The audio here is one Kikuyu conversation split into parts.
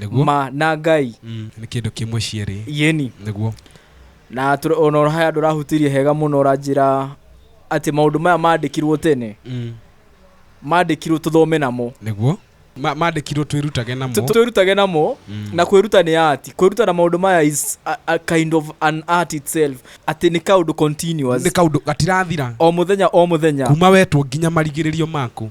nĩguo ma na ngai Mm, nĩ kĩndũ kĩmwe cierĩ yeni nĩguo na tũra- ona ũrahaya andũ ũrahutirie hega mũno ũranjĩra atĩ maũndũ maya mandĩkirwo tene Mm, mandĩkirwo tũthome namo nĩguo Ma- mandĩkirwo twĩrutage namo Tũ- twĩrutage namo Mm. na kwĩruta nĩ ati kwĩruta na maũndũ maya is a, a kind of an art itself atĩ nĩ kaũndũ continuous nĩ kaũndũ gatirathira o mũthenya o mũthenya kuma wetwo nginya marigĩrĩrio maku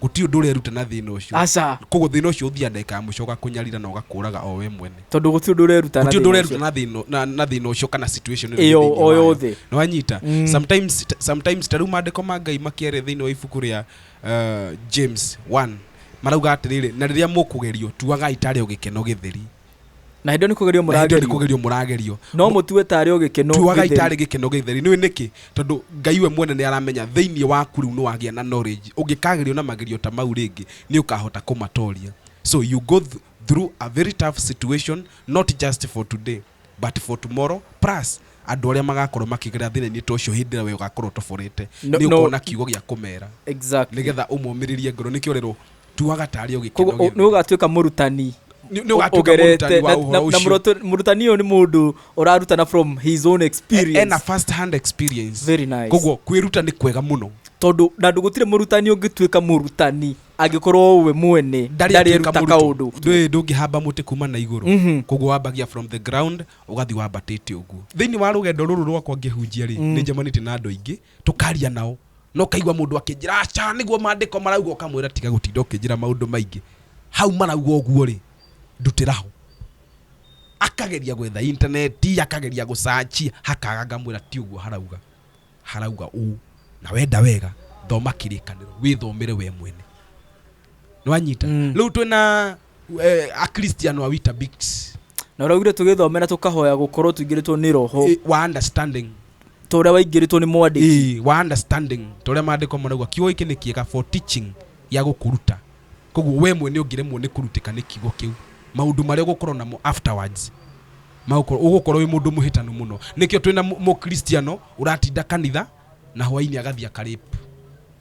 guti undu ureruta na thina ucio aca koguo thina ucio uthia ndagika ya muico ugakunyarira na ugakuraga o we mwene tondå gå tirä å ndå reruta na guti undu thĩna ureruta ũcio. na thina na- na thina ucio kana situation ĩrĩa ĩrĩ Ĩyo thĩinĩ o wayo. yothe. Nĩ wanyita Mm. sometimes t- sometimes ta rĩu maandĩko ma ngai makĩarĩ thĩinĩ wa ibuku rĩa uh, james 1 marauga atĩrĩrĩ na rĩrĩa mũkũgerio tuagai tarĩ o gĩkeno gĩtheri na hĩndĩ ĩyo nĩ kũgerio na hĩndĩ ĩyo nĩ mũragerio kũgerio mũragerio no mũtue tarĩ o gĩkeno tuagai gĩtheri. tarĩ gĩkeno gĩtheri nĩũĩ nĩkĩ tondũ ngai we mwene nĩ aramenya thĩinĩ waku rĩu nĩ wagĩa na knowledge ũngĩkagerio na magerio ta mau rĩngĩ nĩ ũkahota kũmatoria so you go th through a very tough situation not just for today but for tomorrow plus andũ arĩa magakorwo makĩgerera thĩna-inĩ ta ũcio hĩndĩ ĩrĩa we ũgakorwo ũtoborete No- nĩ no- ũkona kiugo gĩa kũmera exactly nĩgetha ũmomĩrĩrie ngoro nĩkĩo rero tuaga tarĩ o gĩkeno koguo nĩ ũgatuĩka mũrutani Nĩ- nĩ ũgatuĩka ũgerete mũrutani wa na- ũhoro na- na ũcio. mũroto- mũrutani ũyũ nĩ mũndũ ũrarutana from his own E- ena experience first hand experience Very nice. koguo kwĩruta nĩ kwega mũno tondũ na ndũ gũtirĩ mũrutani ũngĩtuĩka mũrutani angĩkorwo we mwene Ndarĩ ndarĩ atuĩka ruta mũrutwo. kaũndũ Ndũĩ ndũngĩhamba mũtĩ kuma na igũrũ Mhm. koguo wambagia from the ground ũgathiĩ wambatĩte ũguo thĩinĩ wa rũgendo rũrũ rwakwa ngĩhunjia rĩ nĩ njemanĩtie na andũ aingĩ tũkaria nao no kaigua mũndũ akĩnjĩra aca nĩguo mandĩko marauga ũkamwĩra tiga gũtinda ũkĩnjĩra maũndũ maingĩ hau marauga ũguo rĩ ndutĩra ho akageria gwetha intaneti akageria gũcanci hakaga ngamwĩra ti ũguo harauga harauga ũũ na wenda wega thoma kĩrĩkanĩro wĩthomere we mwene nĩwanyita Mm. rĩu twĩ na eh, akristiano wa witabix na ũraugire tũgĩthomera tũkahoya gũkorwo tũingĩrĩtwo nĩ roho eh, wa understanding ta ũrĩa waingĩrĩtwo nĩ mwandĩki eh, wa understanding ta ũrĩa maandĩko marauga kiugo gĩkĩ nĩ kĩega for teaching ya gũkũruta koguo we mwene ũngĩremwo nĩ kũrutĩka nĩ kiugo kĩu maũndũ marĩa ũgũkorwo namo afterwards magũkorwo ũgũkorwo wĩ mũndũ mũhĩtanu mũno nĩkĩo twĩ na mũ- mũkristiano ũratinda kanitha na hwainĩ agathiĩ akarĩpu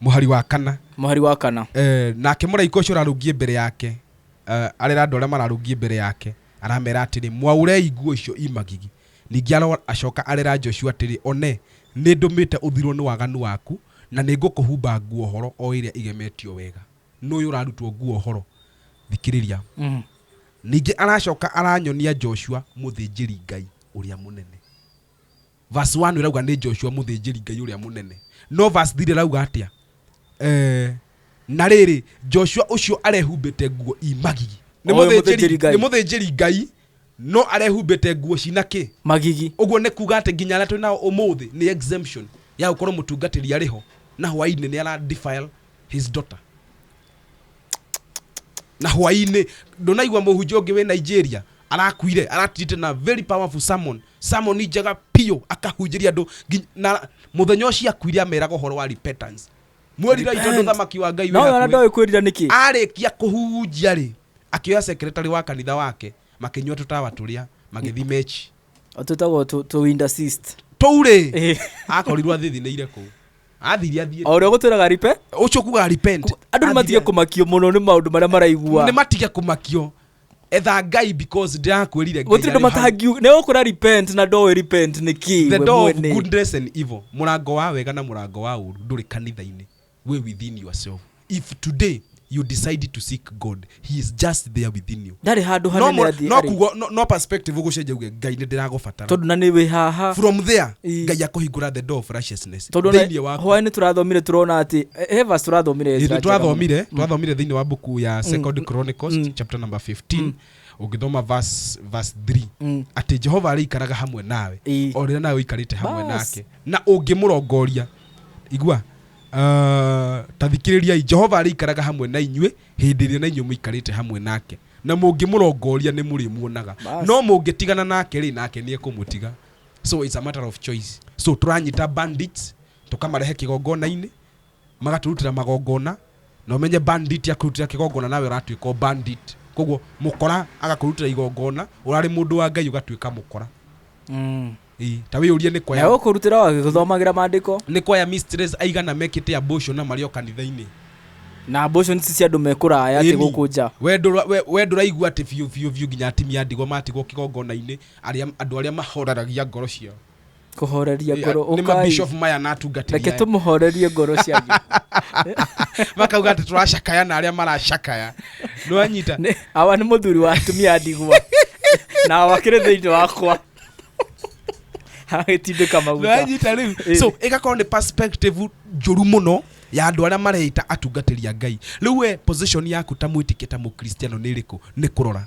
Mũhari wa kana. Mũhari wa kana. Eh, nake mũraika ũcio ũrarũngiĩ mbere yake eh, arera andũ arĩa mararũngiĩ mbere yake aramera atĩrĩ mwaurei nguo icio imagigi ningĩ aro acoka arera Joshua atĩrĩ one nĩ ndũmĩte ũthirwo nĩ waganu waku na nĩ ngũkũhumba nguo horo o ĩrĩa igemetio wega nũyũ ũrarutwo nguo horo thikĩrĩria mm. ningĩ aracoka aranyonia Joshua mũthĩnjĩri Ngai ũrĩa mũnene verse 1 ĩrauga nĩ joshua mũthĩnjĩri ngai ũrĩa mũnene no verse 3 ĩrauga atĩa eh, na rĩrĩ joshua ũcio arehumbĩte nguo imagigi nĩ Oĩ mũthĩnjĩri mũthĩnjĩri Ngai. nĩ mũthĩnjĩri ngai no arehumbĩte nguo cina kĩ magigi ũguo nĩ kuga atĩ nginya arĩa twĩ nao ũmũthĩ nĩ exemption ya gũkorwo mũtungatĩri arĩ ho na hwainĩ nĩ ara defile his daughter na hwainĩ ndũnaigua mũhunjia ũngĩ wĩ nigeria arakuire aratirite na very powerful sermon Sermon njega piũ akahunjĩria andũ ngi- na mũthenya ũcio akuire ameraga ũhoro wa repentance mwĩrirai tondũ Repent. thamaki wa ngai wĩ nawe ona hakuhĩ." ndoĩ kwĩrira nĩkĩ arĩkia kũhunjia rĩ akĩoya sekretarĩ wa kanitha wake makĩnyua tũtawa tũrĩa magĩthi mechi tũtagwo tũwindasist tũurĩ akorirwo athithinĩire kũ athiri athiĩ o ũrĩa gũtwĩraga ripe ũcio kuga repent andũ nĩ matige kũmakio mũno nĩ maũndũ marĩa maraigua nĩ matige kũmakio etha ngai because ndirakwĩrire Ngai gũtirĩ ndå arĩ hau. matangiuga nä kå ra repent na ndoä repent nä kä the door of goodness and evil mũrango wa wega na mũrango wa ũru ndũrĩ kanitha-inĩ wĩ within yourself if today you decide to seek god he is just there within you ndarä handå no, hanene mũra- athiĩ no, arĩ. kugo, no, no perspective ũgũcenjia uge ngai nĩ ndĩragũbatara tondå na nä wä haha from there Ii. ngai akũhingũra the door of righteousness tondå thĩinĩ wa hwaä nä tå rathomire tå rona atä hevas tå rathomire Ezra njega mũno. twathomire twathomire thĩinĩ wa buku ya second chronicles Mm. chapter number 15 ũngĩthoma verse verse 3 Mm. atĩ jehova arĩikaraga hamwe nawe Ĩĩ. o rĩrĩa nawe ũikarĩte hamwe Bas. nake na ũngĩmũrongoria igua Uh, ta thikĩrĩriai jehova arĩikaraga hamwe na inyuĩ hĩndĩ ĩrĩa na inyuĩ mũikarĩte hamwe nake na mũngĩmũrongoria nĩ mũrĩmuonaga Bas. no mũngĩtigana nake rĩ nake nĩ ekũmũtiga so it's a matter of choice so tũranyita bandits tũkamarehe kĩgongona-inĩ magatũrutĩra magongona na ũmenye bandit akũrutĩra kĩgongona nawe ũratuĩka o bandit koguo mũkora agakũrutĩra igongona ũrarĩ mũndũ wa ngai ũgatuĩka mũkora Mm. Ĩĩ, ta wĩyũrie nĩ na kwaya ũkũrutĩra wagĩthomagĩra maandĩko nĩ kwaya mistress aigana mekĩte amboco na marĩ o kanitha-inĩ na mboco nĩ cia andũ mekũraya atä Ĩni. gå kå nja We ndũra- we- we ndũraigua atä biå biå biũ nginya atimia ndigwa matigwo kä gongona-inä arĩa andũ arĩa mahoreragia ngoro ciao kũhoreria ngoro nĩ ũkai mabishop maya na atungatĩri reke aya. tũmũhorerie ngoro cianyu makauga atĩ tũracakaya na arĩa maracakaya nĩwanyita Nĩ- awa nĩ mũthuri wa atumia a ndigwa na awa kĩrĩ thĩinĩ wakwa agĩtindĩka maguta nĩwanyita rĩu Ĩĩ. so ĩgakorwo nĩ perspective njũru mũno ya andũ arĩa mareita atungatĩri a ngai rĩu we position yaku ta mwĩtĩkia ta mũkristiano nĩ ĩrĩkũ nĩ kũrora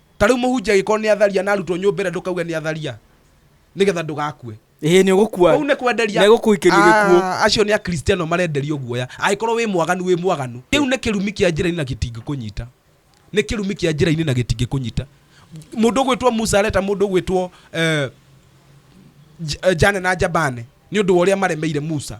ta rĩu mũhunjia agĩkorwo nĩ atharia na arutwo nyũmba ĩrĩa ndũkauge nĩ atharia nĩgetha ndũgakue ĩhĩ nĩ ũgũkua kũu nĩ kwenderia nĩ gũkũikĩrio gĩkuũ Ah, acio nĩ akristiano marenderio guoya angĩkorwo wĩ mwaganu wĩ mwaganu kĩu nĩ kĩrumi kĩa njĩra-inĩ na gĩtingĩkũnyita nĩ kĩrumi kĩa njĩra-inĩ na gĩtingĩkũnyita mũndũ ũgwĩtwo musa areta mũndũ ũgwĩtwo eh, J- eh, jane na jabane nĩ ũndũ wa ũrĩa maremeire musa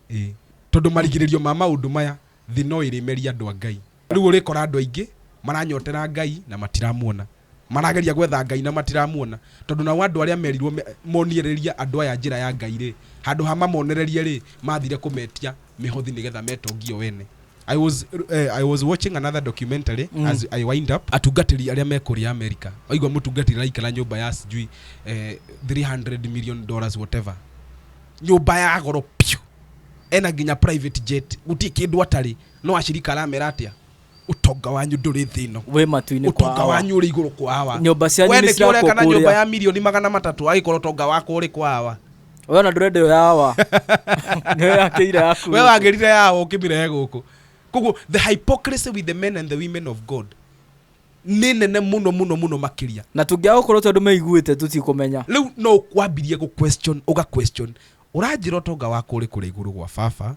Ĩ! Tondũ marigĩrĩrio ma maũndũ maya, thĩ no ĩrĩmeria andũ a Ngai. Rĩu ũrĩkora andũ aingĩ maranyotera Ngai na matiramuona, marageria gwetha Ngai na matiramuona, tondũ nao andũ arĩa merirwo monirĩria andũ aya njĩra ya Ngai-rĩ, handũ ha mamonererie-rĩ, mathire kũmetia mĩhothi nĩ getha metongie o ene. I was, I was watching another documentary as I wind up, atungatĩri arĩa me kũrĩa America, waigua mũtungatĩri araikara nyũmba ya sijui 300 million dollars whatever, nyũmba ya goro piũ ena nginya private jet gutirĩ kĩndũ atarĩ no acirika aramera atĩa utonga wanyu ndũrĩ thĩ ĩno wĩ matu-inĩ kwa utonga awa. wanyu ũrĩ igũrũ kwa hawa Nyũmba cianyu we nĩ nĩkĩo cirakwo ũreka na nyũmba kũrĩa. ya mirioni magana matatũ agĩkorwo utonga wakwa ũrĩ kwa hawa we ona ndũrenda ĩyo ya awa nĩyo yakĩire yaku we wagĩrire ya hawa ũkĩmĩrehe gũkũ koguo the hypocrisy with the men and the women of god nĩ nene mũno mũno mũno makĩria na tũngĩaga gũkorwo tondũ meiguĩte tũtikũmenya rĩu no ũkwambirie gũ question ũga question ũranjĩra ũtonga wakwa ũrĩ kũrĩa igũrũ gwa baba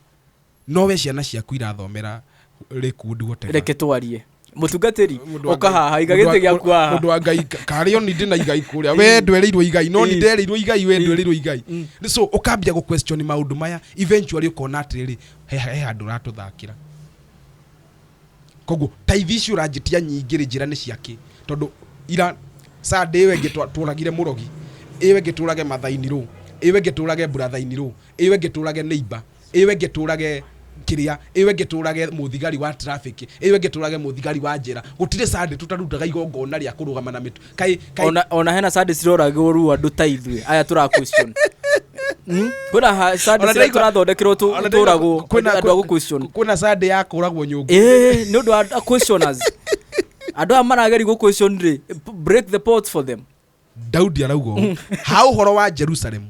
no we ciana ciaku irathomera Lakewood whatever reke twarie mũtungatĩri Mũndũ wa ũka Ngai- haha iga mũndũ wa- gĩtĩ gĩaku haha mũndũ wa ngai karĩ oni ndĩ na igai kũrĩa we ndwereirwo igai no ni Ĩĩ. ndereirwo igai we Ĩĩ. ndwereirwo igai Mm. Nĩ so ũkambia gũ question maũndũ maya eventually ũkona atĩrĩrĩ he he handũ ũratũthakĩra koguo taithi ici ũranjĩtia nyingĩ rĩ njĩra nĩ ciakĩ tondũ ira sande ĩyo ĩngĩ twa- tũragire mũrogi ĩyo ĩngĩ tũrage mathaini rũ ĩyo ĩngĩ tũrage burathaini rũ ĩyo ĩngĩ tũrage neiba ĩyo ĩngĩ tũrage kĩrĩa ĩyo ĩngĩ tũrage mũthigari wa traffic ĩyo ĩngĩ tũrage mũthigari wa njĩra gũtirĩ sande tũtarutaga igongona rĩa kũrũgama na mĩtu kai kai ona ona hena sadi ciroragwo ru andu ta ithuĩ aya tura question Hmm? kwĩna ha- sadi Ona cira ndaigua- tũrathondekerwo tu- Ona ndĩrona tũragwo kwĩna- andũ a gũ question kwĩna sande ya kũragwo nyũngũ Eh, nĩ ũndũ wa a- questioners andũ aya marageri gũ question rĩ b- break the pot for them daudi arauga ũũ ha ũhoro wa jerusalemu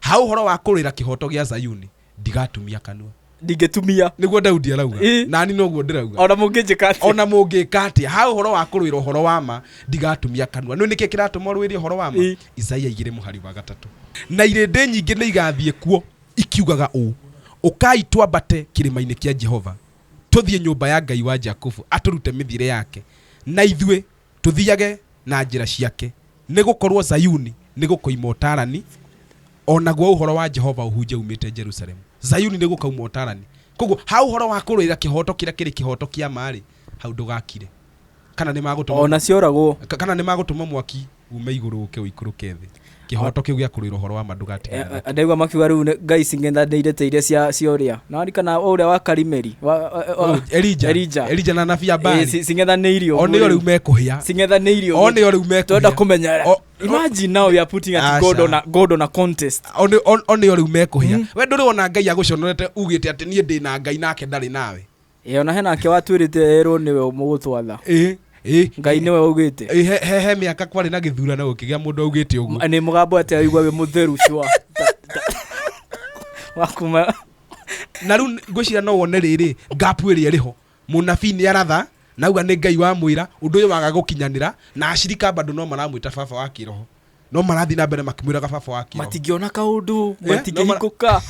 Ha ũhoro wa kũrũĩra kĩhooto gĩa Zayuni, ndigatumia kanua. Ndingĩtumia. Nĩguo Daudi arauga. Ĩ. Nani noguo ndĩrauga. O na mũngĩnjĩka atĩa. O na mũngĩka atĩa. Ha ũhoro wa kũrũĩra ũhoro wa ma, ndigatumia kanua. Nĩũĩ nĩkĩ kĩratũma ũrũĩre ũhoro wa ma? Ĩ. Isaia igĩrĩ mũhari wa gatatũ. Na irĩndĩ nyingĩ nĩigathiĩ kuo, ikiugaga ũũ, Ũkai twambate kĩrĩma-inĩ kĩa Jehova, tũthiĩ nyũmba ya Ngai wa Jakubu, atũrute mĩthiĩre yake, na ithuĩ tũthiage na njĩra ciake, nĩ gũkorũo Zayuni nĩ gũkoima ũtaarani, o naguo ũhoro wa Jehova ũhunje uumĩte Jerusalemu. Zayuni nĩ gũkoima ũtaarani. Kwoguo, ha ũhoro wa kũrũĩra kĩhooto kĩrĩa kĩrĩ kĩhooto kĩa ma-rĩ, hau ndũgakire. Kana nĩ magũtũma, kana nĩ magũtũma mwaki uume igũrũ ũũke ũikũrũke thĩ. kĩhoto kĩu gĩa kũrũĩra ũhoro wa ma ndũgatiganĩke Eh, ndaigua makiuga rĩu nĩ- ngai cing'etha ndeirĩte iria cia cia ũrĩa na arikana ũrĩa wa karimeri wa- wa- wa- Ũyũ, elija Elija. elija na nabi ya Eh, bari ci- cing'ethanĩirio o nĩo rĩu mekũhĩa cing'ethanĩirio o nĩo rĩu twenda mekũhĩa kũmenya O- o- imagine now we are putting at god Aca. on a, god on a contest O nĩ- o- o nĩo rĩu mekũhĩa we ndũrĩ wona ngai agũconorete ugĩte atĩ niĩ ndĩ na ngai nake ndarĩ nawe ĩ ona hena ake watuĩrĩte erwo nĩwe mũgũtwatha ĩ ĩ ngai nĩwe augĩte ĩ, he- he he mĩaka kwarĩ na gĩthurano gũkĩgĩa mũndũ augĩte ũguo nĩ mũgambo atĩ aigua wĩ mũtheru cua wakuma na rĩu ngwĩciria no wone rĩrĩ ngapu ĩrĩa ĩrĩho mũnabii nĩ aratha nauga nĩ ngai wamwĩra ũndũ ũyũ waga gũkinyanĩra na acirika bado no maramwĩta baba wa kĩroho no marathiĩ na mbere makĩmwĩraga baba wa kĩo matingĩona kaũndũ Eh? matingĩhingũka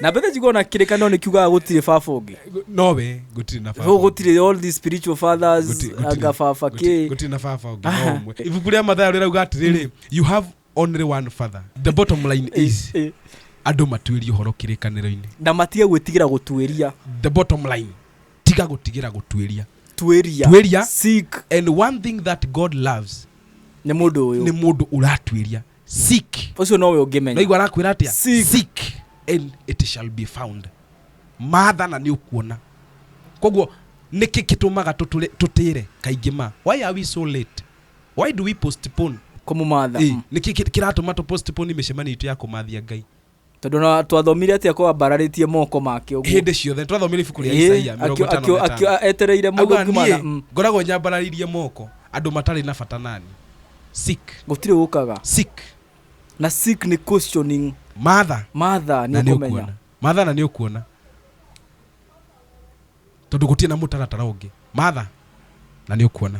na mbethe njiguo na kĩrĩkanĩro nĩ kiugaga gũtirĩ baba ũngĩ nowe gũtirĩ na baba Rĩu gũtirĩ all these spiritual fathers Gũti- gũtirĩ- anga baba gũti- kĩ gũtirĩ na baba ũngĩ Aha. no ũmwe ibuku rĩa mathayo rĩrauga atĩrĩrĩ you have only one father the bottom line is Eh, eh. andũ matuĩrie ũhoro kĩrĩkanĩro-inĩ na matige gwĩtigĩra gũtuĩria the bottom line tiga gũtigĩra gũtuĩria tuĩria Tuĩria. seek and one thing that god loves nĩ mũndũ nĩ ũyũ mũndũ ũratuĩria seek ũcio nowe ũngĩmenya naigua arakwĩra atĩa Seek. seek and it shall be found matha na nĩ ũkuona koguo nĩkĩ kĩtũmaga tũtũre- tũtĩre kaingĩ ma why are we so late why do we postpone kũmũmatha Eh, nĩkĩ kĩ- kĩratũma tũ postpone mĩcemanio itũ ya kũmathia ngai tondå na twathomire atä a kwambararä tie moko make å hä ndä ciothe nĩ twathomire ibuku rĩa isaia mĩrongo ĩtano na ĩtano etereire må Auga, thå ngiuma niĩ na ngoragwo nyambararĩirie moko andũ matarĩ na bata nani sick gå tirä å kaga sick na sick nĩ questioning matha matha na nä nä å å kå menya kuona matha na nä å kuona tondå gå tiä na må taratara å ngä matha na nä å kuona